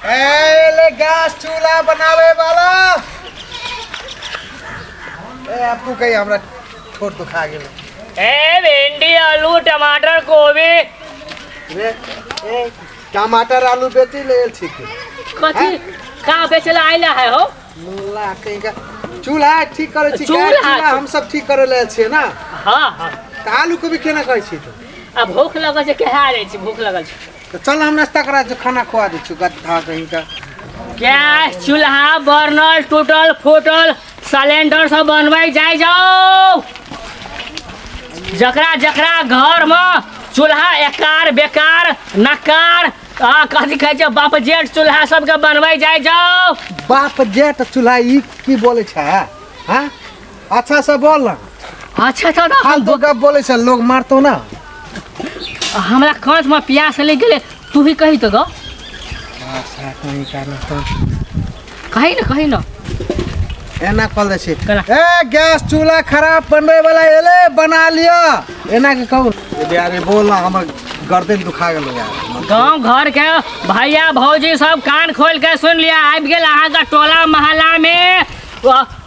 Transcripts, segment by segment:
Gas चूल्हा बनावे वाला ए आपको कहीं हमरा छोड़ तो खा गेल ए भिंडी आलू टमाटर गोभी रे ए टमाटर आलू बेची ले ठीक है कथी का बेचला आइला है हो मुल्ला कहीं का चूल्हा ठीक करे छी गैस चूल्हा चूल्हा ठीक। हम सब ठीक करे ले छिए ना हाँ हाँ त आलू को भी केना कहै छी तो आ भूख लगल छै कहा रे छी भूख लगल छै तो चल हम नाश्ता करा दे खाना खुआ दे छु गद्दा कहीं का गैस चूल्हा बर्नल टूटल फूटल सिलेंडर सब बनबै जाइ जाओ जकरा जकरा घर में चूल्हा एकार बेकार नकार आ कथी कहै छै बाप जेठ चूल्हा सबके बनबै जाइ जाओ बाप जेठ चूल्हा ई की बोले छै हैं अच्छा से बोल ना अच्छा अच्छा ना हाल तो गप बोले से लोग मारतो ना हमरा कांच में प्यास ले गेले तू ही कही तो ग अच्छा कहीं का ना तो कही ना कही ना एना कल दे छी कला। ए गैस चूल्हा खराब बनबे वाला एले बना लियो एना के कहू यार बोल ना हमर गर्दन दुखा गेल यार गांव घर के भैया भौजी सब कान खोल के सुन लिया आबि गेल अहाँ का टोला मोहल्ला में अ,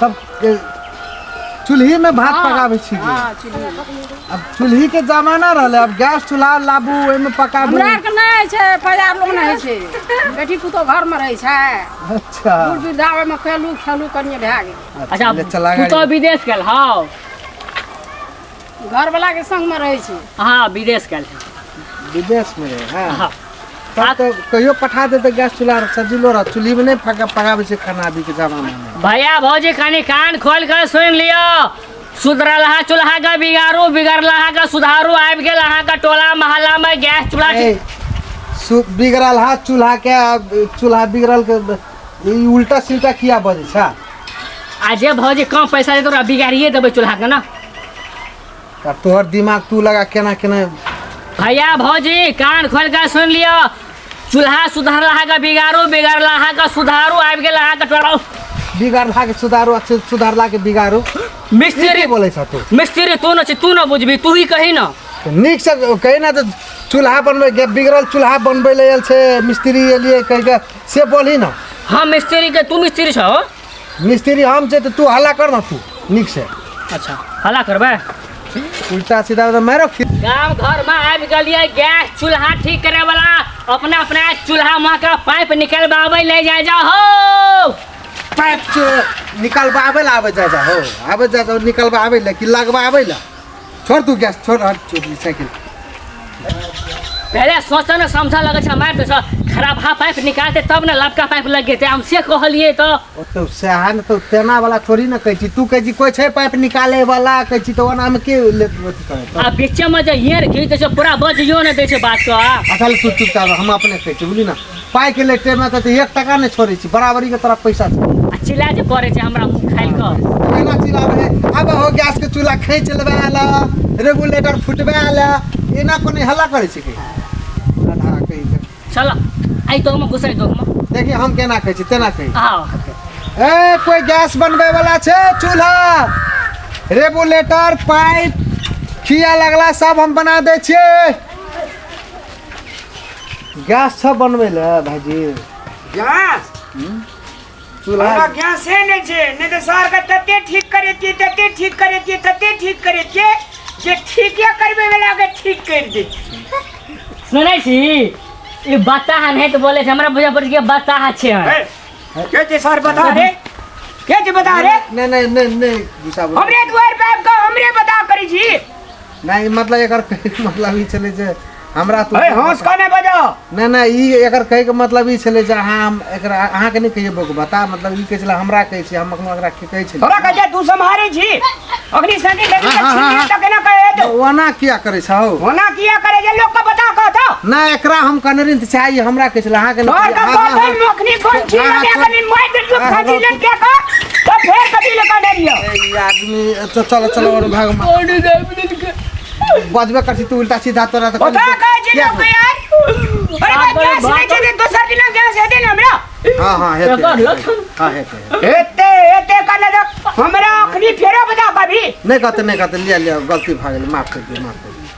तब के- चूल्ही में भात पकाबै छी हाँ, चुल्ही। अब चूल्ही के जमाना रहले अब गैस चूल्हा लाबू ओहि में पकाबू हमरा आरके नहि छै परिवार लोग नहि होइ छै बेटी पुतहु घरमे रहै छै अच्छा दूर वृद्धा ओहिमे खेलू खेलू कनिए भए गेल अच्छा ले चला गाड़ी पुतहु विदेश गेल हौ घरवाला के संग में रहे छी हाँ विदेश गए विदेश में रहे हाँ हाँ। तब तो कहियो पठा दे तो गैस चूल्हा रह- सजिलो रह चूल्ही में नहीं फका पकाबे छै खाना अभी के जमाना में भैया भौजी कनी कान खोल कर सुन लियो सुधरलहा चूल्हा का बिगाड़ू बिगड़लहा का सुधारू आबि गेल अहाँ का टोला मोहल्ला में गैस चूल्हा ए, सु- बिगड़ल हाथ चूल्हा के आ, चूल्हा बिगड़ल के ई उल्टा सिल्टा किया बजे छा आ जे भौजी कम पैसा दे तोरा बिगाड़िए देबै चूल्हा के ना अब तोहर दिमाग तू लगा केना केना भैया भौजी कान खोल के सुन लियो चूल्हा सुधार लहा के बिगाड़ू बिगाड़ लहा के सुधारू आबि गेल अहाँके टोलो बिगाड़ला के सुधारू आ सु- सुधारला के बिगाड़ू ई मिस्त्री की बोलै छ तू मिस्त्री तू न छी तू न बुझबी तू ही कही न तऽ नीक से कही ना तऽ चूल्हा बनबै बिगड़ल चूल्हा बनबै लए आयल छै मिस्त्री एलियै कहि कऽ से बोलही ना हम मिस्त्री के तू मिस्त्री छो मिस्त्री हम छै तऽ तू हल्ला कर ना तू नीक से अच्छा हला करबे उल्टा सीधा एकदम मारो फिर गांव घर में आबि गेलिए गैस चूल्हा ठीक करे वाला अपना अपना चूल्हा में का पाइप निकलबाबे ले जाए जा हो पाइप से निकलबाबै लए आबै जा जा हो आबै जा जा निकलबाबै लए कि लगबाबै लए छोड़ तू गैस छोड़ हट चोरी साइकिल पहले सोचा ना समझा लगे छै मार दे छ खराब हा पाइप निकालते तब ना लबका पाइप लग गेते हम से कहलिए तो ओ तो सहन तो तेना वाला थोड़ी ना कहै छी तू कहै छी कोई छै पाइप निकाले वाला कहै छी तो ओना में के ले अथी कहै तो आ बीच में जे हियर घी दे छै पूरा बजियो ना दे छै बात तो आ असल तू चुप कर हम अपने कहै छी बुझली ना पाइ के लेटे में त एक टका नै छोड़े छी बराबरी के तरह पैसा आ चिल्ला जे करे छै हमरा मुंह खाइल क केना चिल्लाबे है अब हो गैस के चूल्हा खींच लेबे आला रेगुलेटर फुटबे आला एना कोने हल्ला करे छी के आधा कहि के चल आई तो में घुसाई दो में देखि हम केना कहै छी तेना कहि आओ ए कोई गैस बनबे वाला छै चूल्हा रेगुलेटर पाइप खिया लगला सब हम बना दे छिए गैस छ बनबै ले भाजी गैस चूल्हा हमरा गैसे नहि छै नहि तऽ सरके तते ठीक करेतियै तते ठीक करेतियै तते ठीक करेतियै जे ठीके करबै वलाके ठीक करि दै सुनै छी ई बताह नहि तऽ बोले छै हमरा बुझा पड़ै छै कि बताह छै हे, के छै सर बता रे के छै बता रे नहि नहि नहि नहि गुस्सा बोल हमरे दुआर पे आबि कऽ हमरे बता करै छी नहि मतलब एकर कहैके मतलब ई छलै जे हमरा तू अरे हंस का नहीं बजा नहि नहि ई एकर कहैके मतलब ई छलै जे अहाँ हम एकरा अहाँके नहि कहिए बोक बता मतलब ई कहै छलै हमरा कहै छी हम एखनो एकरा की कहै छलै थोड़ा कहे तू सम्हारे छी अग्नि संगी लगी हाँ, हाँ, हाँ। तक ना कहे तो ओना किया करै छौ होना किया करे जे लोग का बता कह तो नहि एकरा हम कनरिन तऽ चाही हमरा कहै छलै अहाँके तोर का हाँ, हाँ, बात है हाँ। मखनी कौन छी हाँ, लगे हाँ, अगर मैं बिल्कुल हाँ, हाँ, खाती लग क्या का तो फिर कभी लगा नहीं रियो ए, ई आदमी चल चल चल और भाग मार बॉडी दे मिनट के बजबे करती तू उल्टा सीधा तोरा तो ओका का जे लोग के यार अरे बा गैस नहीं चाहिए दोसर दिन गैस है दे ना हमरा हां हां हेते एकर लक्षण हां हेते एते एते का ना हमरा अखनी फेरो बता कभी नहीं कहते नहीं कहते लिया लिया गलती भा गेल माफ कर दे माफ कर दे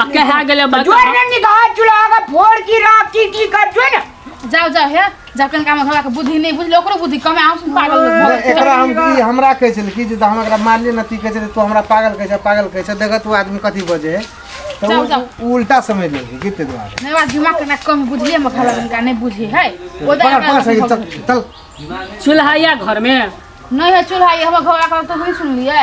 आ कहा गेले बा जो ने निगाह चुला के फोड़ की राख की की कर जो ने जाओ जाओ हे जाओ कन काम हमरा के बुद्धि नहीं बुझलो ओकरो बुद्धि कमे आउ सुन पागल लोग भऽ गेल। एकरा हम ई हमरा कहै छल कि जे हम एकरा मारलिए न ती कहै छल तू हमरा पागल कहै छ पागल कहै छ देखत ओ आदमी कथी बजे है तऽ जाउ, जाउ। उ- उ उल्टा समझ लेलकै कि ताहि दुआरे नहीं बा दिमाग के ना कम बुझिए में खला का नहीं बुझी है ओ पकड़ पकड़ सही चल जाए चल चूल्हा या घर में नहीं है चूल्हा ये हमर घर का तो नहीं सुन लिए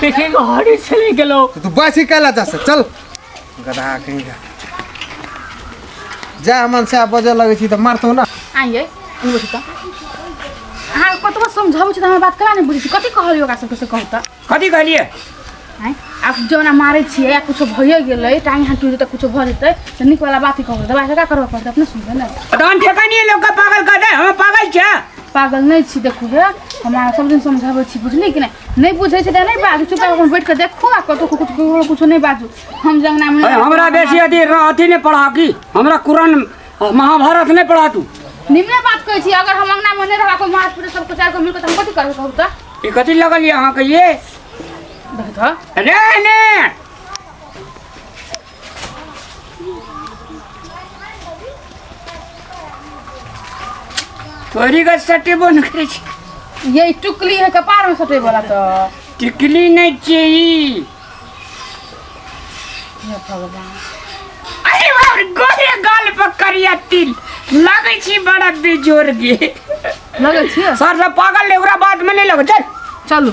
देखे घड़ी चले गेलो तो तू बस ही कहला जा से चल गधा कहीं का जा मन से बजे लगे छी तो मारतो ना आइए ई बुझी त अहाँ कतबो समझाबै छी त हमर बात करा नै बुझै छी कथी कहलियै ओकरा सबके से कहू त कथी कहलिए आँय आब जौना मारै छियै या कुछो भइए गेलै टाँग हाथ टुटि तऽ कुछो भऽ जेतै तऽ नीकवला बात ही कहबै दबाइ जका करबऽ पड़तै अपने सुनबै ने तो हम ठेका नहीं लोग का पागल कर रहे हम पागल क्या पागल नहीं छी देखू हे हमारा सब दिन समझाबे छी बुझली कि नहीं नहीं बुझे छै त नहीं बाजू चुपचाप अपन बैठ के देखू आ कतो कुछ ककरो कुछ नहीं बाजू हम जंगना में अरे हमरा बेसी अथी अथी नहीं पढ़ा की हमरा कुरान महाभारत नहीं पढ़ा तू निम्ने बात कहै छी अगर हम अंगना में नहीं रहबा कोई मार पीट सब कुछ आर को मिल के त हम कथि करबो कहू त ई कथी लगल ये अहाँ के ये देख त अरे ने तोरी गछ सटेबो न करै छै ये टुकली है कपार में सटे वाला तो टिकली नहि छियै ई हे भगवान अरे बाप रे, गोरे गाल पर करिया तिल लगै छी बड़ा बेजोर गे लगे छियै सर सब पागल ले ओकरा बात में नहि लगै चल चलू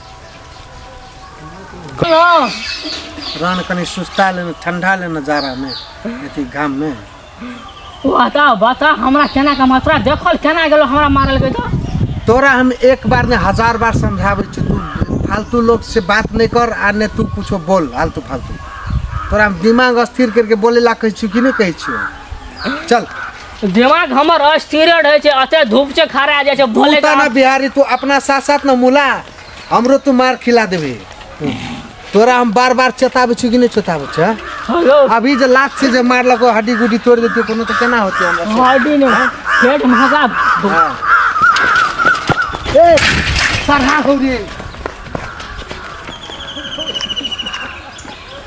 रहन कनि सुस्ता लेने ठंडा लेने जाड़ा में अथी घाम में बता बता हमरा केना के मात्रा देखल केना गेलो हमरा मारल गई तो तोरा हम एक बार ने हजार बार समझावे छी तू फालतू लोग से बात नहीं कर आ ने तू कुछो बोल फालतू फालतू तोरा हम दिमाग अस्थिर करके बोले ला कहै छी कि नहीं कहै छी चल दिमाग हमर अस्थिर रहै छै अते धूप से खड़ा जाइ छै भोले बोलता ना बिहारी तू अपना साथ साथ ना मुला हमरो तू मार खिला देबे तोरा हम बार बार चेताबै छी कि नहीं चेताबै छ हेलो अभी जे लात से जे मारलको हड्डी गुड्डी तोड़ देती कोनो तो केना होती हमरा से? हड्डी ने पेट महका हाँ। ए सरहा हो रे